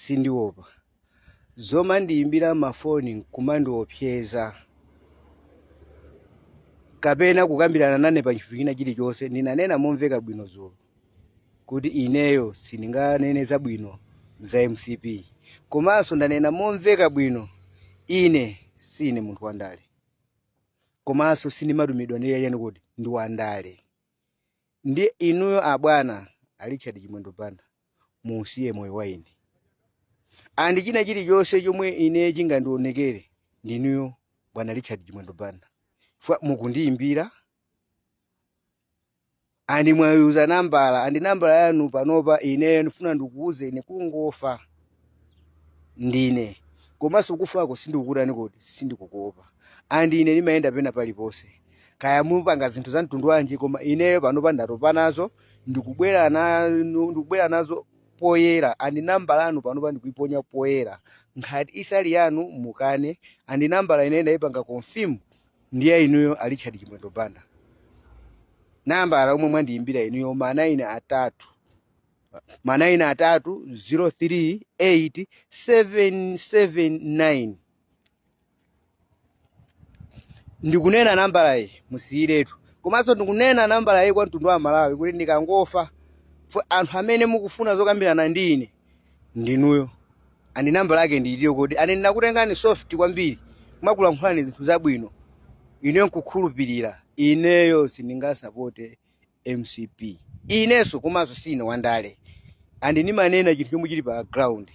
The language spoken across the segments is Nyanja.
Sindiopa zomandiimbira mafoni n'kumandiopseza kapena kukambirana nane pa chinthu china chilichonse. Ndinanena momveka bwino dzulo kuti ineyo sindinganene zabwino za mcp komanso ndanena momveka bwino ine siine munthu wandale komanso sindimatumidwa ndi achani kuti ndi wandale ndi inuyo abwana a richard chimwendo banda muwusiye moyo wa ine andi china chilichonse chomwe ine chingandionekere ndinuyo bwana richard chimwendo banda chifukwa mukundiyimbira andi mwayuza nambala andi nambala yanu panopa ineyo ndifuna ndikuwuzeni kungofa ndine komanso kufako sindikukutani kodi sindikukuopa and ine ndimayenda pena paliponse kaya mupanga zinthu za mtundu wanji koma ineyo panopa ndatopa nazo ndikubwera nanu ndikubwera nazo poyera and nambala yanu panopa ndikuiponya poyera ngati siili yanu mukane and nambala ine ndayipanga confirm ndiye inuyo a richard chimwendo banda nambala omwe mwandiyimbira inuyo ma 9 atatu ma 9 atatu 03 8 779 ndikunena nambala iyi musiyiretu komanso ndikunena nambala iyi kwa mtundu wa amalawi kuti ndikangofa anthu amene mukufuna zokambirana ndi ine ndinuyo andi nambala yake ndi iyiyo kodi ane ndimakutengani soft kwambiri nkukulankhulani zinthu zabwino ineyo nkukhulupirira ineyo sindingasapote mcp inenso komanso sine wandale and ndimanena chinthu chomwe chili pa ground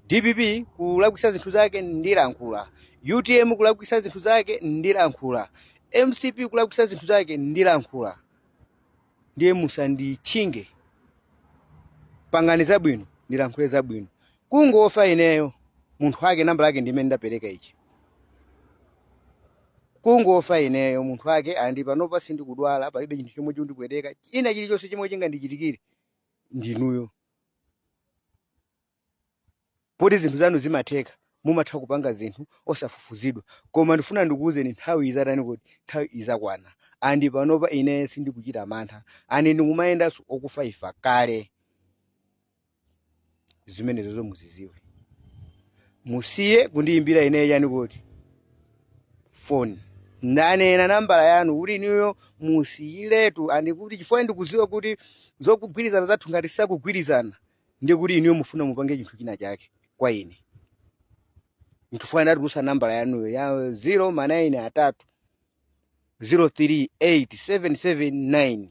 dpp kulakwisa zinthu zake ndilankhula utm kulakwisa zinthu zake ndilankhula mcp kulakwisa zinthu zake ndilankhula ndiye musanditchinge pangani zabwino ndilankhule zabwino kungofa ineyo munthu wake nambala yake ndimene ndapereka iyi kungofa ineyo munthu wake andi panopa sindikudwala palibe chinthu chomwe chikundipweteka china chilichonse chomwe chingandichitikire ndinuyo poti zinthu zanu zimatheka mumatha kupanga zinthu osafufuzidwa koma ndifuna ndikuwuzeni nthawi izatani kuti nthawi izakwana andi panopa ine sindikuchita mantha andi ndikumayendanso okufaifa kale zimenezozo muziziwe musiye kundiyimbira ineyo chani kuti foni ndanena nambala yanu kuti inuyo musiyiretu andi kuti chifukwa ndikuziwa kuti zokugwirizana zathu ngati sitikugwirizana ndi kuti inuyo mufuna mupange chinthu china chake kwa ine nchifukwa ndatulusa nambala yanuyo ya 0 manayini atatu 038779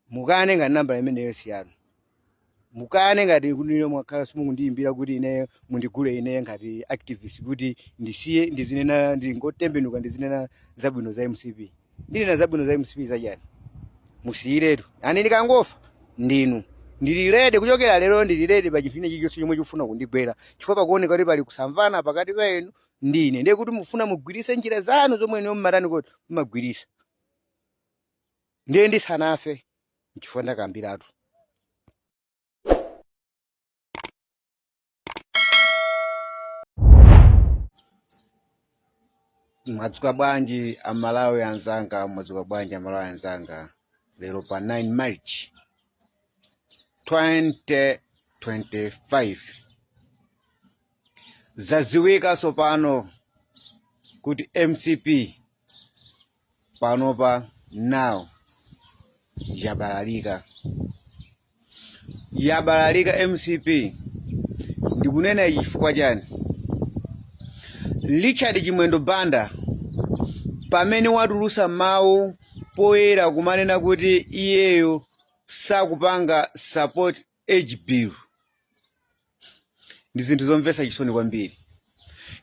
mukane ngati nambala imeneyo si yanu mukane ngati inuyo mwakhala simukundiyimbira kuti ineyo mundigule ineyo ngati activist kuti ndisiye ndizinena ndingotembenuka ndizinena zabwino za mcp ndinena zabwino za mcp zachani musiyiretu and ndikangofa ndinu ndili ready kuchokera lero ndili ready pa chinthu china chilichonse chomwe chikufuna kundigwera chifukwa pakuoneka kuti pali kusamvana pakati pa inu ndi ine ndiye kuti mufuna mugwirise njira zanu zomwe inu mumatani kuti mumagwirisa ndiye ndisanafe nchifukwa ndakambiratu mwadzuka bwanji amalawi anzanga mwadzuka bwanji amalawi anzanga lero pa 9 march 2025 zaziwika sopano kuti mcp panopa now yabalalika yabalalika mcp ndikunena ichi chifukwa chani richard chimwendo banda pamene watulusa mawu poyera kumanena kuti iyeyo sakupanga support age bill ndi zinthu zomvetsa chisoni kwambiri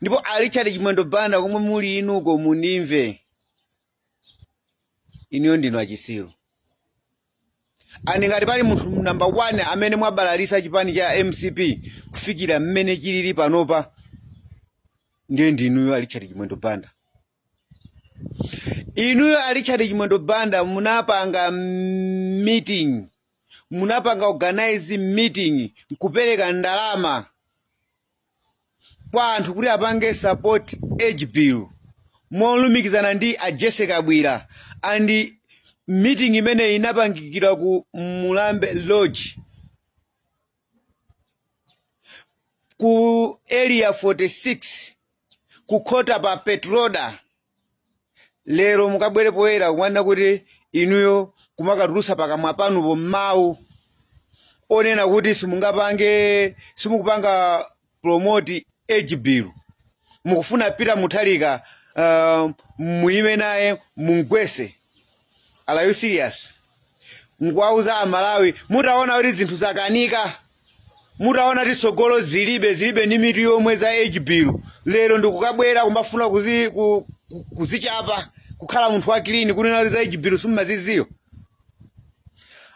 ndipo a richard chimwendo banda komwe muli inuko mundimve inuyo ndinu achisiru and ngati pali munthu namba 1 amene mwabalalisa chipani cha mcp kufikira mmene chilili panopa ndiye ndinuyo a richard chimwendo banda inuyo a richard chimwendo banda munapanga meeting munapanga organize meeting nkupereka ndalama kwa anthu kuti apange support age bill molumikizana ndi a jessie kabwila and meeting imene inapangikira ku mulambe lodge ku area 46 kukhota pa petroda lero mukabwere poyera kumanena kuti inuyo kumakatulutsa pakamwa panupo mmawu onena kuti simungapange simukupanga promote age bill mukufuna peter mutharika uh, muime naye mumgwese are you serious mkuwauza amalawi mutaona kuti zinthu zakanika mutaona kuti tsogolo zilibe zilibe ndi mitu yomwe za age bill lero ndikukabwera kumbafuna kuzi, ku, ku- kuzichapa kukhala munthu wa clean kunena kuti za age bill simumazidziwa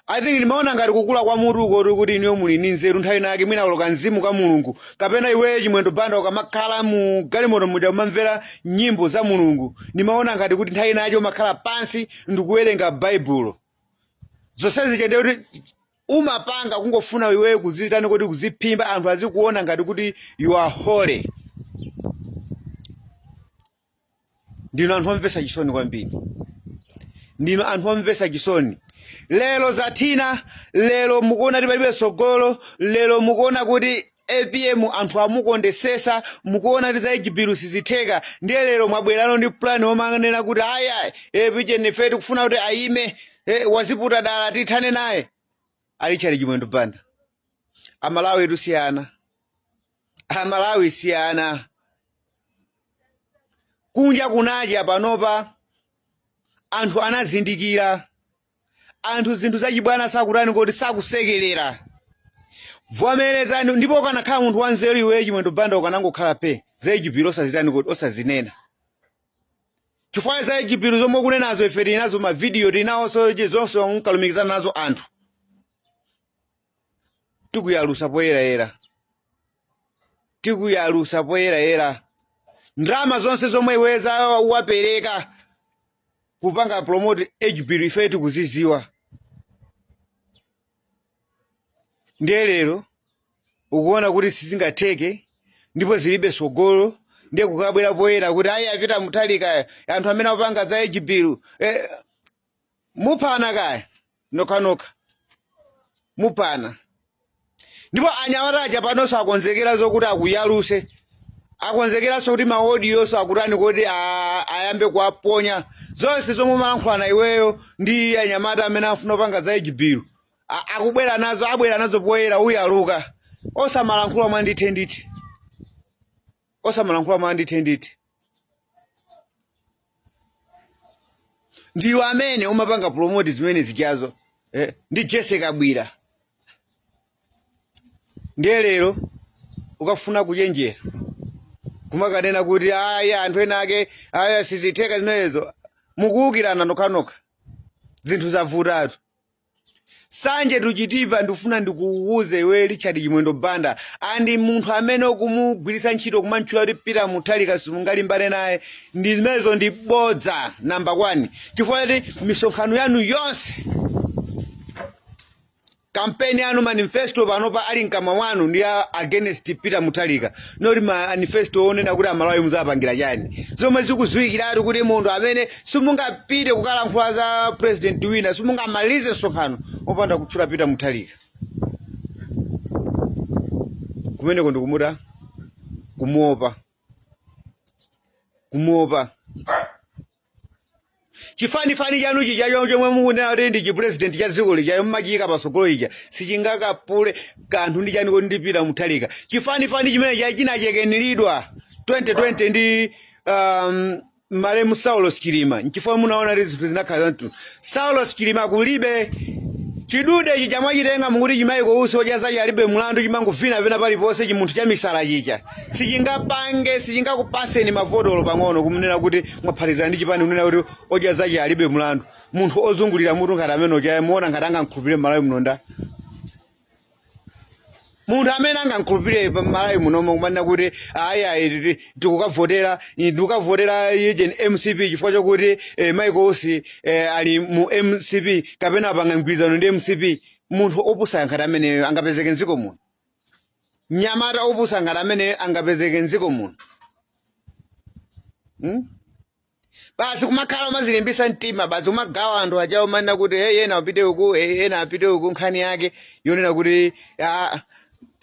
I think ndimaona ngati kukula kwa mutu uko koti kuti ineyo muli ndi nzeru nthawi inayake mwina kuloka mzimu kwa mulungu kapena iweyo chimwendo banda ukamakhala mu galimoto muja umamvera nyimbo za mulungu ndimaona ngati kuti nthawi inayache umakhala pansi ndikuwerenga baibulo zonsezi chende koti umapanga kungofuna iweyo kuzitani kodi kuziphimba anthu azikuona ngati kuti you are holy ndinu anthu omvetsa chisoni kwambiri ndinu anthu omvetsa chisoni lero zathina lero mukuona kuti palibe tsogolo lero mukuona kuti apm anthu amukondesesa mukuona kuti za age bill sizitheka ndiye lero mwabwerano ndi plan omanena kuti ayayi apm ife tikufuna kuti ayime eh, waziputa dala tithane naye a richard chimwendo banda amalawi tusiyana amalawi si ana kunja kunacha panopa anthu anazindikira anthu zinthu zachibwana sakutani kodi sakusekerera vomerezani ndipo ukanakhala munthu wanzeru iweyo chimwendo banda ukanangokhala pe za chipiro osazitani kodi osazinena chifukwa za chipiro zomwe ukunenazo ife tili nazo mavidiyo tili nawonso zonse unkalumikizana nazo anthu tikuyalusa poyerayera tikuyalusa poyerayera ndalama zonse zomwe iweyo wapereka kupanga promote age bill ife tikuziziwa ndiye lero ukuona kuti sizingatheke ndipo zilibe sogolo ndiye kukabwera poyera kuti ayi a peter mutharika anthu amene apanga za age bill eh, muphana kaya nokhanokha muphana ndipo anyamata aja panonso akonzekera zokuti akuyaluse akonzekeranso kuti ma audio nso akutani kodi a- ayambe kuwaponya zonse zomwe umalankhulana iweyo ndi anyamata amene afuna kupanga za age bill akubwera nazo abwera nazo poyera uyaluka osamalankhula mwandithe ndithe osamalankhula mwandithe ndithe ndiwe amene umapanga promote zimene zichazo eh, ndi jessie kabwila ndiye lero ukafuna kuchenjera kumakanena kuti ayi anthu ena ake ayi sizitheka zimenezo mukuwukirana nokhanokha zinthu zavutatu sanje tuchitipa ndikufuna ndikuwuze iwe richard chimwendo banda and munthu amene ukumugwiritsa ntchito kumantchula kuti peter mutharika simungalimbane naye ndi zimenezo ndi bodza namba 1 chifukwa kuti misonkhano yanu yonse kampeni yanu manifesto panopa ali mkamwa mwanu ndi a- against peter mutharika not manifesto onena kuti amalawi muzawapangira chani zomwe zikudziwikiratu kuti munthu amene simungapite kukalankhula za president wina simungamalize msonkhano opanda kutchula Peter Mutharika kumeneko ndikumuda kumuopa kumuopa chifanifani chanu chija cho- chomwe mukunena kuti ndi chipresident cha dziko lija mumachiyika patsogolo chija sichingakaphule kanthu ndi chani kuti ndi Peter Mutharika chifanifani chimene chija chinachekeniredwa 2020 ndi um, malemu Saulos Chilima nchifukwa munaona kuti zinthu zinakhala zamtundu. Saulos Chilima kulibe chidude ichi cha mwachitenga mukuti chi Michael Usi odya zache alibe mlandu chimangovina vina paliponse chimunthu cha misala chija sichingapange sichingakupatseni mavoti olo pang'ono kumunena kuti mwaphatizana ndi chipani kunena kuti odya zache alibe mlandu munthu ozungulira mutu ngati amene uja iye muona ngati angamkhulupirire m'malawi muno nda munthu amene angamkhulupirire mmalawi munomo kumanena kuti ayi ayi titi- tikukavotera ndikukavotera ujeni mcp chifukwa chakuti eh, michael usi eh, ali mu mcp kapena apanga mgwirizano ndi mcp munthu opusa ngati ameneyo angapezeke mdziko muno mnyamata opusa ngati ameneyo angapezeke mdziko muno hmm? basi kumakhala umazilimbisa mtima basi kumagawa anthu aja kumanena kuti hey, ena apite uku hey, ena apite uku nkhani yake yonena kuti ah,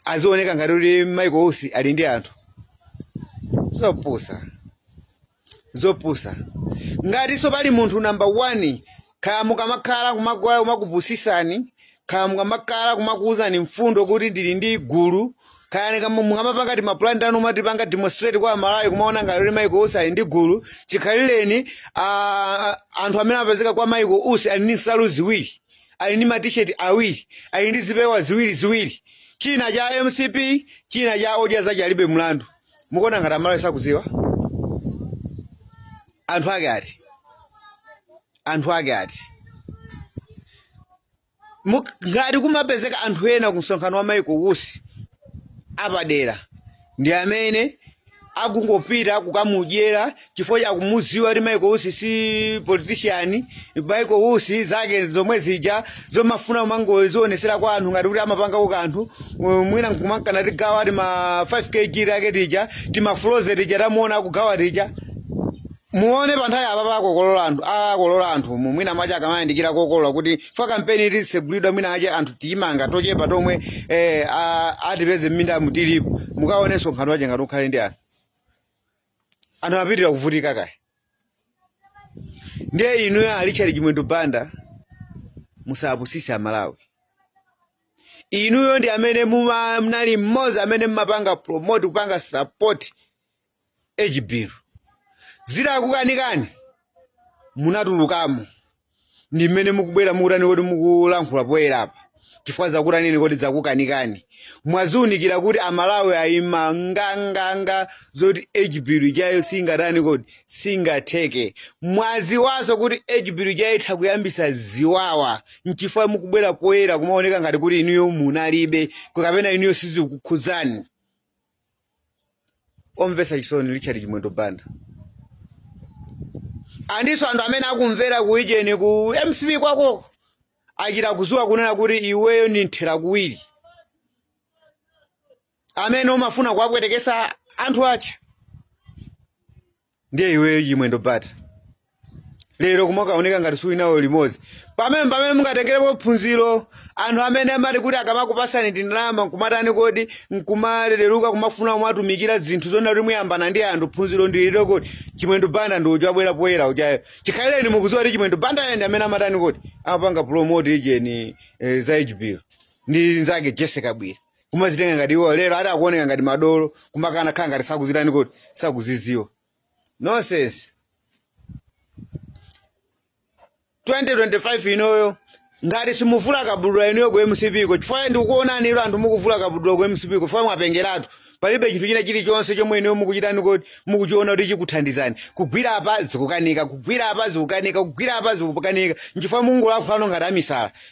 azioneka ngati kuti Michael Usi ali ndi anthu zopusa zopusa ngatinso pali munthu namba 1 Kaya mukamakhala kumakhala kumakupusisani, kaya mukamakhala kumakuuzani mfundo kuti ndili ndi gulu, kaya mukama mukamapanga timapulani tanu mukapanga demonstrate kwa Malawi kumaona ngati kuti Michael Usi ali ndi gulu, chikhalireni ah, anthu amene amapezeka kwa Michael Usi ali ndi nsalu ziwiri, ali ndi matisheti awiri, ali ndi zipewa ziwiri ziwiri, china cha mcp, china cha odya zache alibe mlandu. mukuona ngati amalawi sakudziwa anthu ake ati anthu ake ati Muk- ngati kumapezeka anthu ena ku msonkhano wa Michael Usi apadera ndi amene akungopita kukamudyera chifukwa chakumudziwa kuti Michael Usi si politician Michael Usi zake zomwe zija zomafuna kumangozionesera kwa anthu ngati kuti amapanga kakanthu mwina nkumanka nagawa ti ma 5 kg tache tija tima froze tija tamuona akugawa tija muone panthawi apa pakokolola anthu akolola anthu mu mwina macha akamayandikira kokolola kuti fa kampeni iti segulidwa mwina ache anthu tiyimanga tochepa tomwe eh, a- atipeze mminda mutilipo mukaonenso msonkhano wache ngati ukhale ndi anthu anthu apitira kuvutika kaya ndiye inuyo a richard chimwendo banda musapusise amalawi inuyo ndi amene muma- munali mmodzi amene mmapanga promote kupanga support age bill zitakukanikani munatulukamo ndi mmene mukubwera mukutani kodi mukulankhula poyera apa chifukwa zakutanini kodi zakukanikani mwaziunikira kuti amalawi ayima nganganga zoti age bill ijayo singatani kodi singatheke mwaziwaso kuti age bill ijayo itha kuyambisa ziwawa nchifukwa mukubwera poyera kumaoneka ngati kuti inuyo munalibe kapena inuyo sizikukhudzani omvetsa chisoni richard chimwendo banda andinso anthu amene akumvera ku ijeni ku mcp kwakoko achita kuziwa kunena kuti iweyo ndi mthera kuwiri amene umafuna kuwapwetekesa anthu ache ndiye iweyo chimwendo banda lero kumakaoneka ngati suli nawo limodzi pamene pamene mungatengerepo phunziro anthu amene amati kuti akamakupasani tindalama nkumatani kodi nkumalereruka kumafuna kumatumikira zinthu zona kuti muyambana ndi anthu phunziro ndi ilo kodi chimwendo banda ndi uja abwera poyera ujayo chikhalireni mukuziwa kuti chimwendo banda yeni amene amatani kodi amapanga promote ijeni eh, za age bill ndi nzake jessie kabwila kumazitenga ngati iwo lero ati akuoneka ngati madolo kumakana kukhala ngati sakuzitani kodi sakuziziwa nonsense 2025 inuyo ngati simuvula kabudula inuyo ku mcp ko chifukwa ndikukuonani inu anthu mukuvula kabudula ku mcp ko chifukwa mwapengeratu palibe chinthu china chilichonse chomwe inuyo mukuchitani kodi mukuchiona kuti chikuthandizani kugwira apa zikukanika kugwira apa zikukanika kugwira apa zikukanika nchifukwa mukungolankhulano ngati amisala